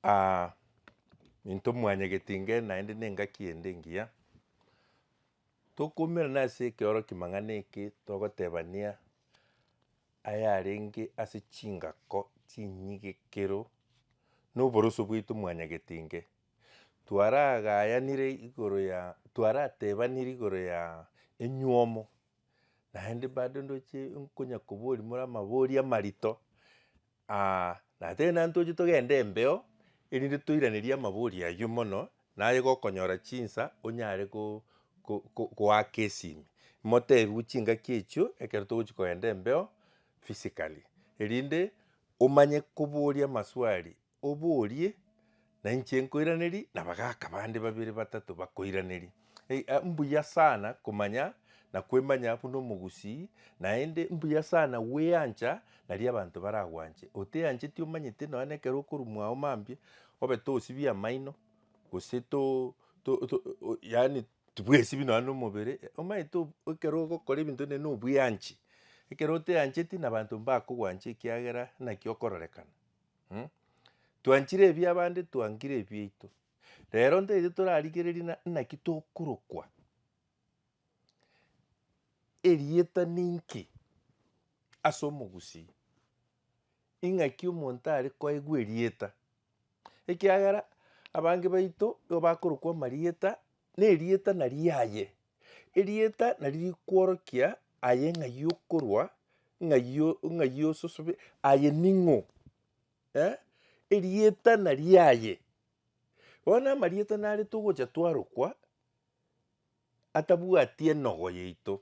Aa, into mwanyagete ingae naende na engaki ende engiya, tokoumerana ase ekeoroki'mang'ana eke togotebania ayarenge ase chingako chinyigekero na oboroso bwaito mwanyagete ingae. Twaragayanire igoro ya, twaratebanire igoro ya enywomo. naende bado ndoche nkonya koboria more amabori amarito, na tari naye toche togende embeo, erinde toiraneria amabori aywo mono, naye gokonyora chinsa onyare go- go- go- goaka esimi, motebiwe chingaki echio ekero togochia kogenda embeo physically, erinde omanye koboria amaswali. oborie, na inche nkoiranerie, na bagaka bande babere batato bakoiraneria. Ei, a, mbuya sana komanya na kwemanya buna omogusii, naende mbuya sana gweancha naria abanto baragwanche. Oteancheti omanyete nonya na ekero okorumwa ao mambia, obe tosibie amaino, gose to- to- to o- yaani tibwesibi nonya na omobere, omanyete ob- ekero ogokora ebinto ne- nobweanchi. Ekero oteancheti nabanto mbakogwanche ekiagera naki okororekana. Mh. Twanchire ebi abande twankire ebiaito. Rero ntaete torarigereria na naki tokorokwa. Erieta ninki ase omogusii? Ing'aki omonto are koegwa erieta? Ekiagera abange baito nigo bakorokwa amarieta, na erieta nariaye. Erieta nari rikworokia aye ng'ai okorwa, ng'ai o- ng'ai ososobe, aye ning'o? eh, erieta nari aye. Bono amarieta nare togocha twarokwa atabwati enogo yaito,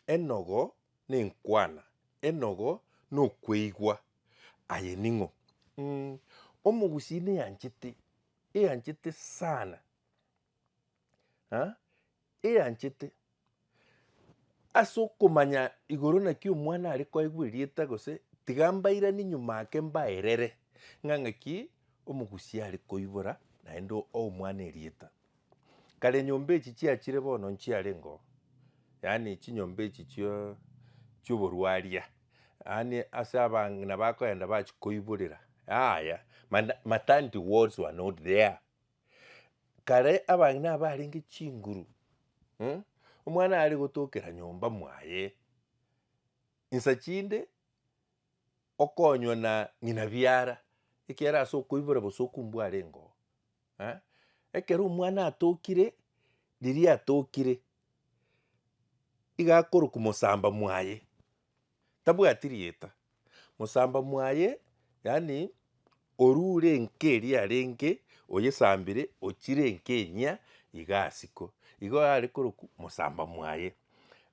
enogo na enkwana, enogo na okweigwa, aye ning'o? Omogusii niyanchete, eyanchete sana. ah, eyanchete ase okomanya igoro naki omwana are koigwa erieta gose tiga mbairani nyuma ake mbaerere ng'a ng'aki omogusi are koibora naende o- omwana erieta. Kare nyomba echi chiachire bono nchiarenge oo, yaani chinyomba echi chio chioborwaria, yaani ase abang'ina bakoenda bachikoiborera yaya mana maternity wards were not there. Kare abang'ina aba barenge chinguru, eh, omwana are gotokera nyomba mwaye, insa chinde okonywa na ng'ina biara, ekiagera ase okoibora bosoku mbware ngoo eh. Ekero omwana atokire, riria atokire, iga akorokwa mosamba mwaye, Tabwati rieta. Mosamba mwaye, yaani oru ure enka eria arenge oyesambire ochire enka enyia iga asiko. Igo are korokwa mosamba mwaye.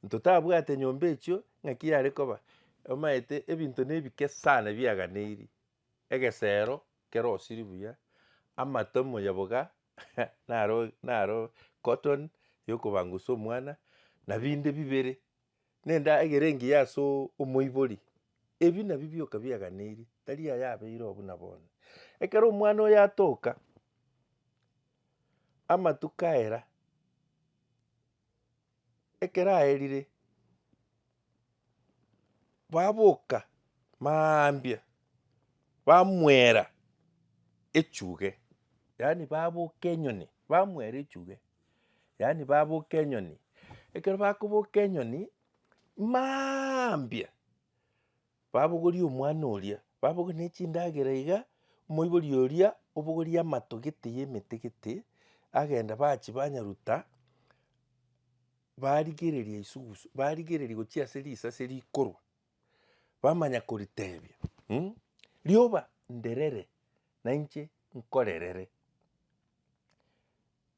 Ntotabwate nyomba echio ng'aki yare koba omaete ebinto nebike sana biaganeiri. Egesero kere osiri buya, amato emoyoboga naro naro cotton yokobangusa omwana na binde bibere. Nendagera engiya ase omoibori, ebi nabio bioka biaganeiri, tari aye abeire oo buna bono. Ekero omwana oyo atoka, amatuko aera, ekero aerire, baboka mambia bamwera echuge, yaani baboka enyoni bamwera echuge. yaani baboka enyoni, ekero bakoboka enyoni maambia, babogoria omwana oria, babogoria ne chindagera iga, omoibori oria obogoria amato gete ya emete gete, agenda bachia banyaruta, barigereria isugusu, barigereria gochia ase risase rikorwa, bamanya koritebia mh, rioba nderere nainche nkorerere.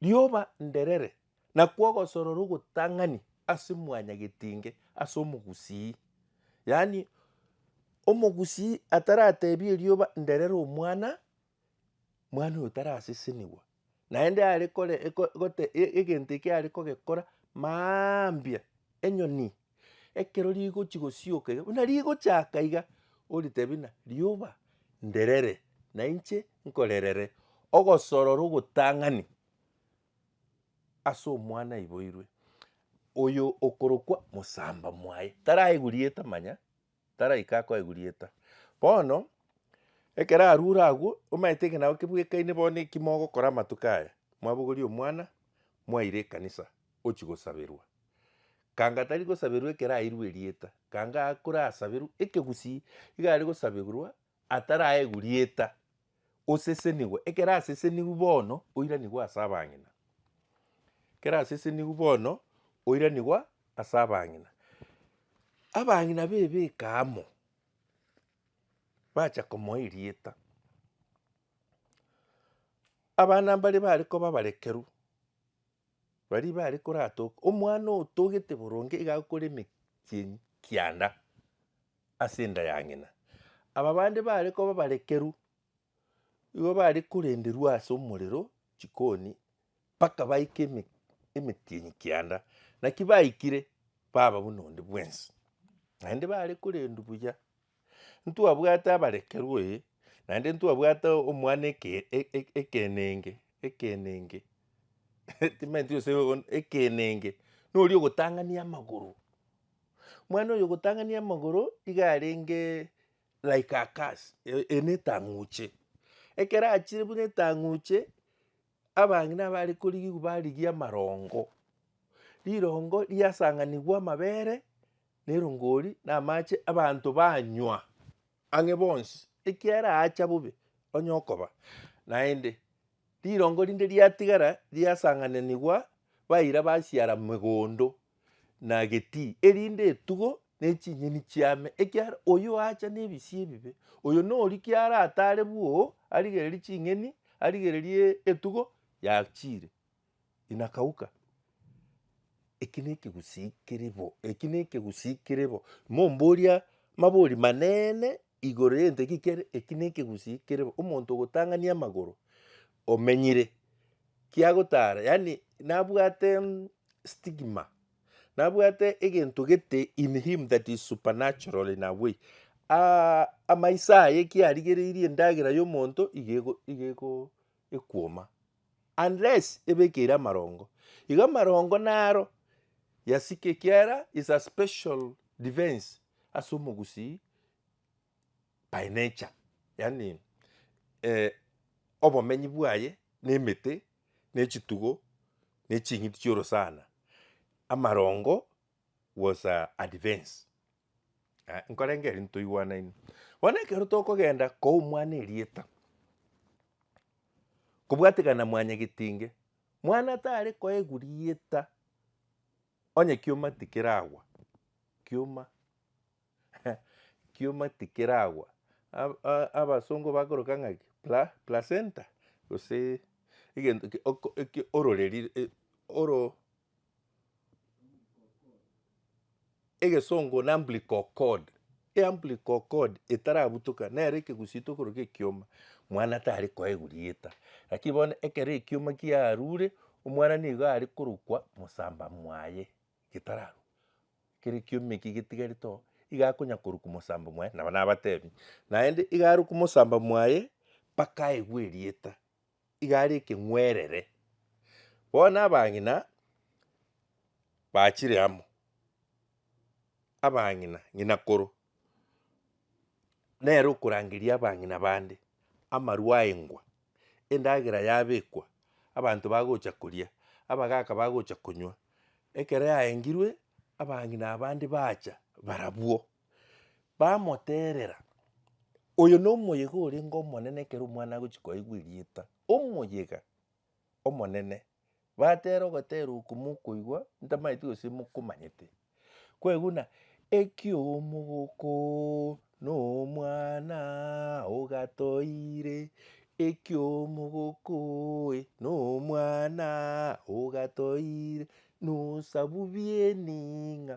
Rioba nderere, na kwogosorora ogotang'ani ase mwanyagetinge ase omogusii, yaani omogusii ataratebie rioba nderere omwana, mwana oyo tarasesenigwa, naende are kore gote egento ekio are kogekora mambia enyoni Ekero rigochi gosioka iga, buna rigochaka iga, oritebi buna rioba nderere, na inche nkorerere, ogosorora ogotang'ani ase omwana aiboirwe, oyo okorokwa mosamba mwaye, taraigwa rieta manya, taraika koegurieta. Bono, ekero arure agwo, omanyete ekenago kebwekaine bono eki mogokora amatuko aya, mwabogoria omwana, mwaire ekanisa, ochia gosaberwa. Kanga tari gosaberwa ekero airwe erieta, kanga akore asaberwe ekegusii, iga are gosaberwa ataraegwa rieta, osesenigwe. Ekero asesenigwe bono, oiranigwe ase abang'ina. Ekero asesenigwe bono, oiranigwe ase abang'ina. Abang'ina bebeka amo, bacha komoa erieta. Abana mbare bare koba abarekeru, baria bare koratoke, omwana otogete boronge iga agokora emechie kianda. ase enda ya ng'ina. Aba bande baare koba barekeru igo baare korenderwa ase omorero chikoni mpaka baike eme- emetienyi kianda. Naki baikire baba buna onde bwensi, naende baare korendwa buya. Ntwabwate abarekeru ee, naende ntwabwate omwana eke- e- e- ekenenge ekenenge timaeti gose on- ekenenge noria ogotang'ania amagoro. Mwana oyo ogotang'ania amagoro iga arenge like a curse, e- eye netang'uche. Ekero achire buna etang'uche, abang'ina abare korigigwa barigia amarongo, rirongo riasang'anigwa amabere, nerongori, na amache abanto banywa. ang'e bonsi, ekiagera aacha bobe onye okoba, naende rirongo rinde riatigara riasang'ananigwa baira basiara megondo na getii, erinde etugo ne chinyeni chiame, ekiagera oyio oacha nebisio ebibe, oyo noria kiara atare bwoo arigererie ching'eni, arigererie etugo yachiire. inakauka, eki nekegusii kere bo, eki nekegusii kere bo, momboria mabori maneene igoro yento eki kere, eki nekegusii kere bo, omonto ogotang'ani amagoro omenyire kiagotara yaani nabwate mm stigma, nabwate egento gete in him that is supernatural in a way amaiso aye kiarigereirie endagera ya omonto iga ego iga ego ekuoma. Unless ebekeire amarongo. Igo amarongo naro yasika ekiara is a special defense ase omogusii by nature. Yaani eh, obomenyi bwaye na emete na echitugo na eching'iti chi'orosana. Amarongo was a advance Ah, nkorenge eri ntoigwanaine bono ekero tokogenda koa omwana erieta kobwatekana mwanyagetinge mwana tare koegwa rieta onye kioma tikeragwa kioma kioma tikeragwa ab- a- abasongo bakoroka ng'a ki pla- placenta gose egento ki oko eki ororeri e oro. Egesongo na umbilical cord. Eumbilical cord etarabutoka nere ekegusito okoroka ekioma, mwana tari koegwa rieta. Lakini bono ekero ekioma kiarure, omwana nigo are korokwa mosamba mwaye getararu. Ekero ekioma eki getigarete oo, iga akonya korokwa mosamba mwaye, nabo nabatebi, naende iga arokwe mosamba mwaye mpaka aegwe erieta. iga are ekeng'werere. Bono abang'ina bachire amo, abang'ina ng'ina koro nere okorangeria abang'ina bande amarwa aengwa, endagera yabekwa abanto bagocha koria, abagaka bagocha konywa, ekero yaengirwe abang'ina abande bacha barabwo. Bamoteerera, Oyo nomoyega orenge omonene ekero omwana agochia koigwa erieta, omoyega omonene. Bateera ogoteera okwo mokoigwa ntamaeti gose mokomanyete. Kwaigu buna, ekiomogoko nomwana ogatoire, ekiomogoko oe nomwana ogatoire, nosabu biening'a.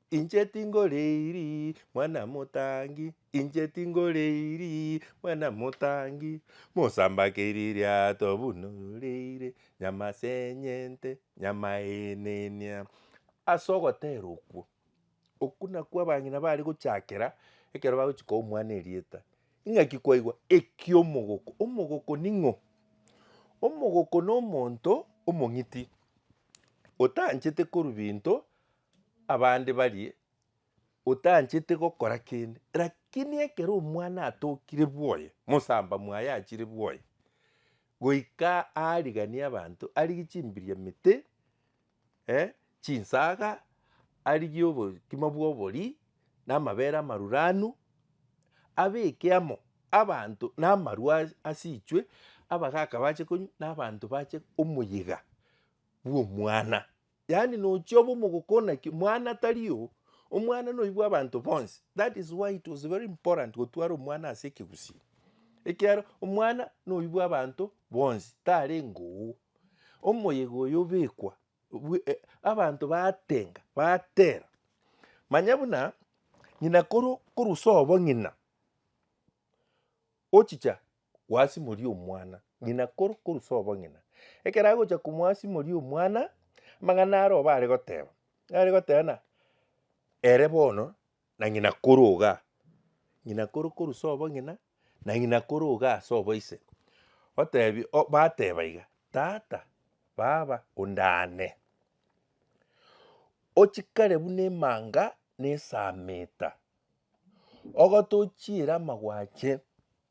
Inche tingoreiri mwana motangi, inche tingoreiri mwana motangi, Mosambakeri riato buna ororeire, nyama senyente, nyama enenia. Ase ogotera okwo, okwo nakwo abang'ina bare gochakera ekero bagochi koa omwana erieta. Ing'aki kwaigwa ekia omogoko, omogoko ning'o? Omogoko nomonto omong'iti, otanchete korwa binto abande barie otanchete gokora kende, lakini ekero omwana atokire bwoye, mosamba mwaye achire bwoye, goika aariganie abanto, arigie chimbiria mete, chinsaga, arigie obokima bwa obori, na amabere amaruranu, abeke amo abanto na amarwa ase- ase ichwe, abagaka bache konywa, na abanto bache omoyiga bwa omwana. Yaani nochia obe omogokona ki mwana tari oo, omwana noyo bwa abanto bonsi. That is why it was very important gotwara omwana ase ekegusii. Ekiagera omwana noyo bwa abanto bonsi tarenge oo. Omoyega oyo obekwa bwe- e- abanto baatenga batera manya buna ng'ina koro korusa obo ng'ina ochicha. gwasimoria omwana, ng'ina koro korusa obong'ina. Ekero agocha komwasimoria omwana, amang'ana are oba are goteba, are goteba ng'a ere bono na ng'ina koro igaa, ng'ina koro korusa obong'ina, na ng'ina koro igaa ase oboise. Otebi o- bateba iga, tata, baba, onde aane, ochikare buna emanga na esaamita, ogotochiere amagwache.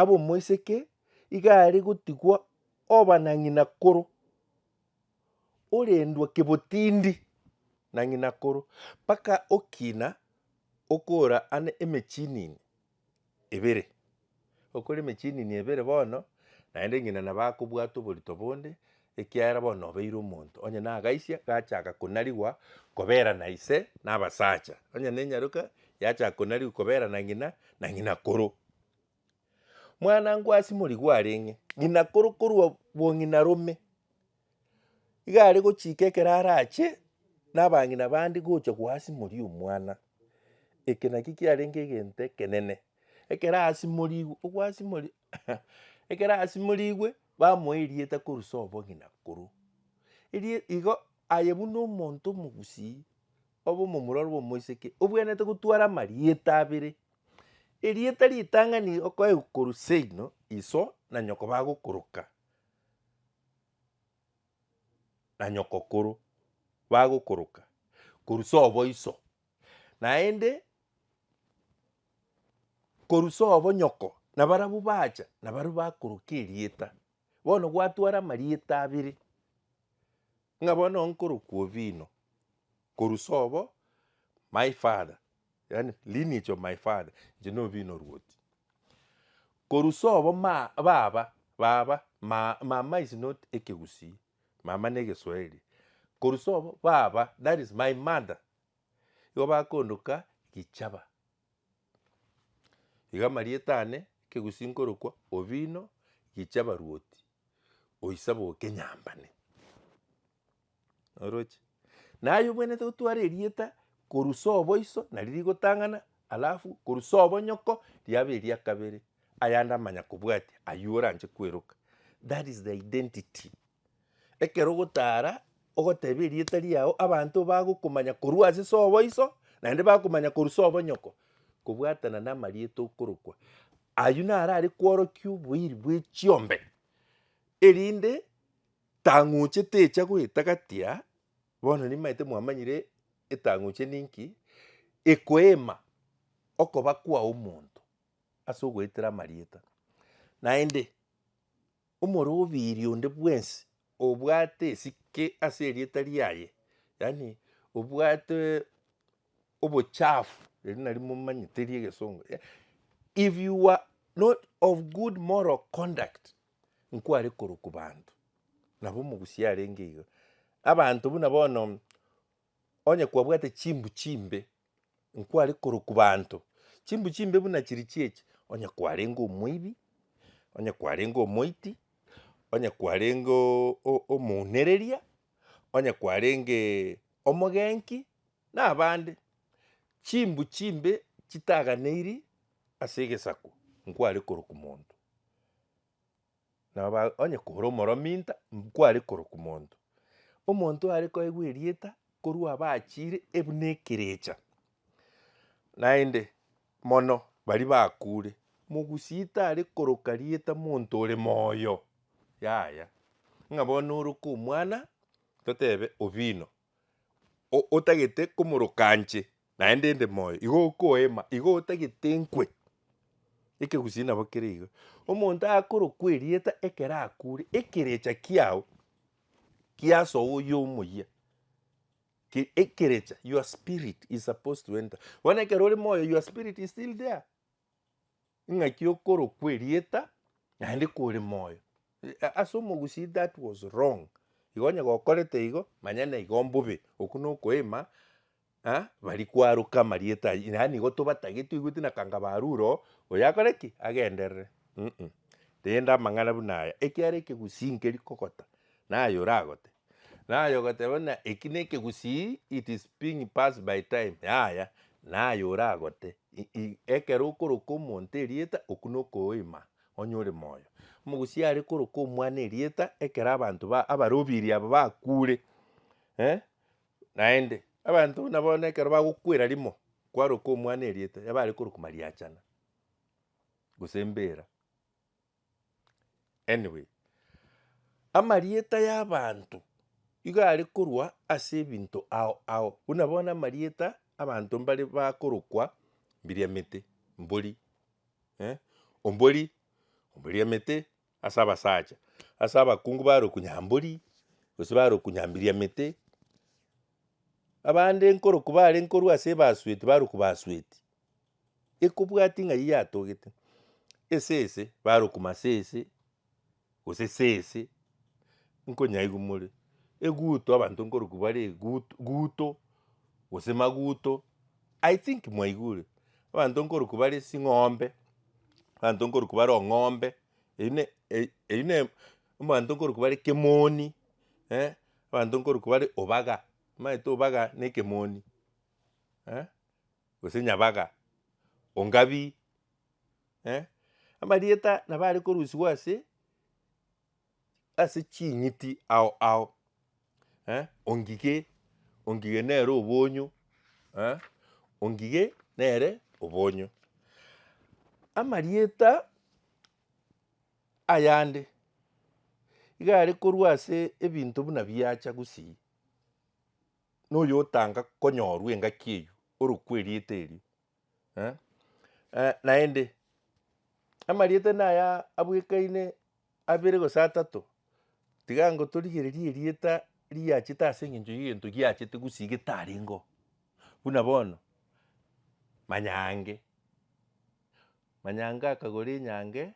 ab'omoiseke iga are gotigwa oba na ng'inakoro, orendwa kebotindi na ng'inakoro, mpaka okina okora ande emechinini ebere, okore emechinini ebere bono naende ng'ina nabo akobwate oborito bonde. Ekiagera bono nobeire omonto, onye nagaisia, gachaka konarigwa koberana ise nabasacha, onye nenyaroka, yachaka konarigwa koberana ng'ina na ng'ina koro. Mwana nkwasi morigwe areng'e, ng'ina koro korwa bong'ina rome, iga are gochika ekero arache nabang'ina bande gocha gwasimori omwana, eke nakio kiarenge egento ekenene, ekero asimorigwe, ogwasimori. Ekero asimorigwe, bamoa erieta korwa ase obogima korwa. Erie igo aye buna omonto omogusii, obe omomura ore omoiseke, obwenerete gotwara amarieta abere. Erieta ritang'ani okoegwa korwa seino, iso, na nyoko bagokoroka, na nyoko koro bagokoroka korwa ase oboiso, naende. Korusa obonyoko, na barabwo bacha, na baria bakoroka erieta. Bono gwatwara amarieta abere, ng'a bono nkorokwa Ovino, korusa obo my father, yaani lineage of my father, inche na Ovino Rwoti. Korusa obo ma baba, baba, ma mama is not ekegusii, mama na egeswahili, korusa obo baba, that is my mother, igo bakoondoka gichaba. Iga amarieta ane ekegusi nkorokwa Obino Gichaba Ruoti, oisaba okenyambane. Oroche? Na aye obwenerete gotwara erieta korusa oboiso nario rigotang'ana alafu korusa obonyoko riabe eria kabere, ayande amanya kobwatia aywo oranche kweroka. That is the identity. Ekero ogotaara ogotebia erieta riao abanto bagokomanya korwa ase soboiso naende bakomanya korwa sobonyoko kobwatana namarieta okorokwa. Aywo naro are kworokia oboiri bwe chiombe erinde tang'uche techa goetagatia bono nimanyete mwamanyire etang'uche ninki ekoema okoba kwa omonto ase ogoetera amarieta naende. Omorobiiri onde bwensi obwate esike ase erieta riaye, yaani obwate obochafu, eri nari momanyete ri'egesongo, ya- if you are not of good moral conduct, nkware korokwa banto, nabo omogusia arenge iga. Abanto buna bono. Onye kwabwate chimbu chimbe, nkware korokwa baanto chimbu chimbe buna chiri chi'echi, onye kwarenge omoibi, onye kwarenge omoiti, onye kwarenge o- o- omounereria, onye kwarenge omogenki, na abande. Chimbu chimbe chitaganeiri ase egesaku, nkware korokwa monto. Nabo ba- onye kore omorominto, nkware korokwa monto. Omonto oare koegwa erieta korwa abaachire ebuna ekerecha. Naende mono baria bakure, mogusii tare koroka rieta monto ore moyo, yaya. Ng'a bono oroka omwana, totebe Obino, o- otagete komoroka nche, naende inde moyo, igo okoema, igo otagete nkwe. Ekegusii nabo kere iga. Omonto akorokwa erieta ekero akure, ekerecha kiao kiasoa oyo omoyia, ki- ekerecha, your spirit is supposed to enter. Bono ekero ore moyo, your spirit is still there. Ing'aki okoro kw'erieta naende kore moyo. Ase omogusii that was wrong, igo onye gokorete igo manya naigo mbobe, okwo nokoema bari kwaroka amarieta aywo yaani igo tobatagete oigwete na kanga barure oo oyo akore ki? Agenderere um rende amang'ana buna aya ekiara ekegusii nkeri kogota naye oragote Naye ogoteba buna eki nekegusii it is being pass by time yaya naye oragote ekero okoroka omonto erieta okwo nokoima onye ore moyo. Omogusii are koroka omwana erieta ekero abanto ba abarobiri aba bakure eh naende abanto buna bono ekero bagokwera rimo kwaroka omwana erieta yabare koroka mariachana gose mbera. Anyway, amarieta y'abanto igo are korwa ase ebinto ao ao, buna bono amarieta abanto mbare bakorokwa Mbiriamete, Mbori, eh, Ombori, Omboriamete ase abasacha, ase abakungu barokwa Nyambori, gose barokwa Nyambiriamete, abande nkorokwa bare nkorwa ase ebasweti barokwa Basweti, ekobwati ng'ai yatogete esese barokuma ase ese gose sese nkonyaigwa more eguto abanto nkorokwa bare eguto guto gose maguto i think mwaigure abanto nkorokwa bare ching'ombe abanto nkorokwa bare ong'ombe eyi ne eyi eyi ne abanto nkorokwa bare kemoni eh abanto nkorokwa bare obaga omanyete obaga na ekemoni eh. gose nyabaga, ongabi, eh, amarieta nabo are korusigwa ase ase ching'iti ao ao, eh, ongige, ongige nere obonyo, eh, ongige nere obonyo. Amarieta ayande iga are korwa ase ebinto buna biacha gusii, noyotanga konyorwa engaki eyio orokwe erieta erio eh, eh, naende amarieta naya abwekaine abere gose atato, tiga ngotorigererie erieta riachete ase eng'encho y'egento giachete gusii getarengeo, buna bono manyange, manyange akagora enyange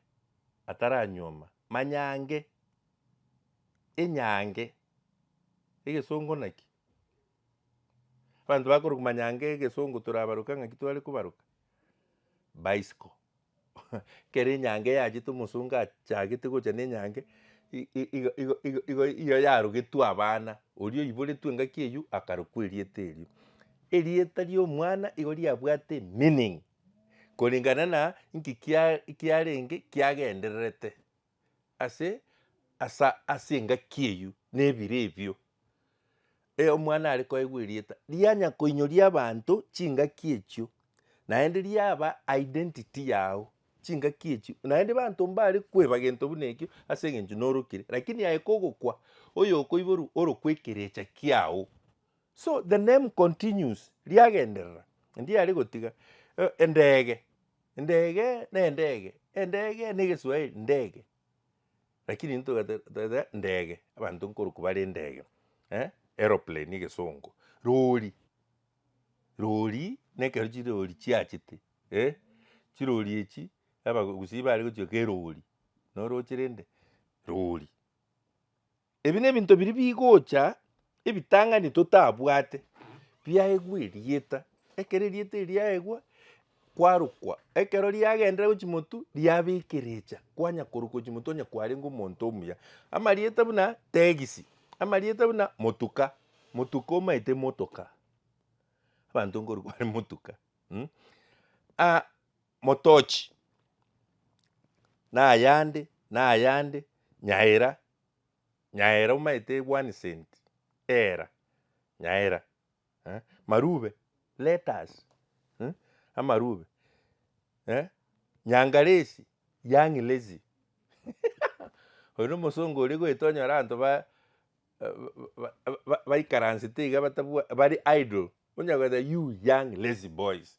ataranyuoma, manyange enyange Egesongo naki? Abanto bakorokwa manyanga egesongo torabaroka ng'aki tware kobaroka? Bicycle ekero enyanga eyachete omosongo achagete gocha na enyanga i- i- igo- igo- igo- igo igo yarogetwe abana, oria oiboretwe engaki eywo akarokwa erieta erio. Erieta ria omwana igo riabwate meaning, korengana na inki kiare- kiarenge kiagendererete. ase asa ase engaki eyio na ebire ebio, e omwana are koegwa erieta rianya koinyoria abanto chingaki echio, naende riaba identity yago chingaki echio, naende abanto mbare koeba gento buna ekio ase eng'encho norokire, lakini aye kogokwa oyokoiborwa orokwa ekerecha kiago, so the name continues riagenderera ndiare gotiga e- endege. Endege nendege, endege na egeswaeri ndege, lakini intwe togate- togata ndege, abanto nkorokwa bare ndege eh, aeroplane na egesongo, rori, rori na ekero chirori chiachete eh, chirori echi abagusii bare gochia gochia kerori, noroche rende rori. Ebi nebinto biria bigocha ebitang'ani totabwate biaegwa erieta, ekero erieta eri riaegwa kwarokwa, ekero riagenderera gochia motu riabekerecha kwanya korokwa gochia motu onye kwarenge omonto omuya. Amarieta buna tegisi, amarieta buna motuka, motuka omaete motoka, abanto nkorwa kware motuka mh. Aa motochi nayande nayande, nyaira Nyaera omaete one cent era nyaera eh marube let us eh amarube eh nyangalesi young lazy oyo na omosongo oria goeta onyore abanto ba baikaransete iga batabwa bare idle onye goeta you young lazy boys.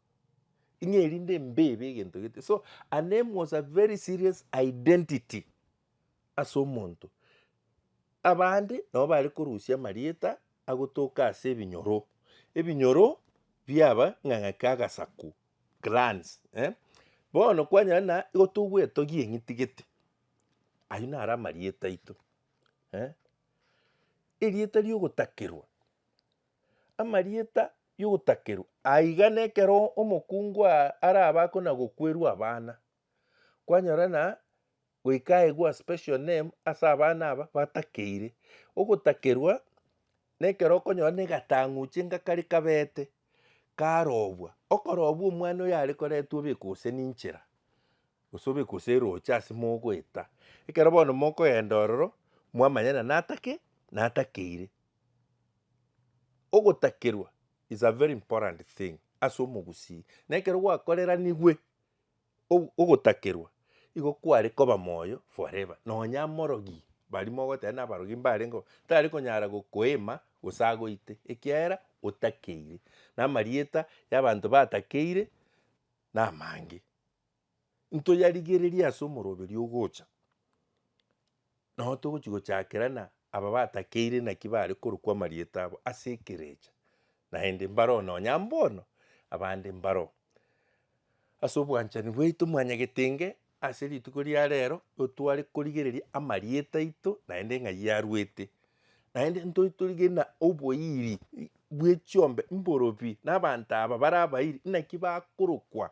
Ing'ee erinde mbebe egento gete so her name was a very serious identity ase omonto. Abande nabo bare korusia amarieta agotoka ase ebinyoro, ebinyoro biaba ng'ang'a kia agasaku, clans eh. Bono kwanyora na igo togwetogia eng'iti gete, ayio naro amarieta aito eh. Erieta ria ogotakerwa. amarieta y'ogotakerwa aiga nekero omokungu arabakwe na gokwerwa abana. Kwanyora na goika aegwa special name ase abana aba batakeire. Ogotakerwa nekero okonyora na egatang'uche ngakare kabete karobwa. Okorobwa omwana oyo are koretwa obekwe gose ninchera gose obekwe gose eroche ase mogoeta. Ekero bono mokoenda ororo mwamanya na natake natakeire. Ogotakerwa is a very important thing ase omogusii, na ekero gwakoreranigwe ogotakerwa igo kware koba moyo forever. Nonya morogi baria mogoteba buna abarogi mbarengeo tari konyara gokoima gose agoite ekiagera otakeire. Na amarieta ya abanto batakeire na amange. ntoyarigererie ase omoroberio ogocha, nao togochi gochakerana aba batakeire naki bare korokwa amarieta abo ase ekerecha, naende mbaroo nonya mbono, abande mbaroo. Ase obwanchani bwaito mwanyagete inge ase rituko ria rero, otware korigereria amarieta aito naende ng'ai arwete, naende ntoi torigerie ng'a oboiri bwe chiombe mborobi, na abanto aba bare abairi naki bakorokwa.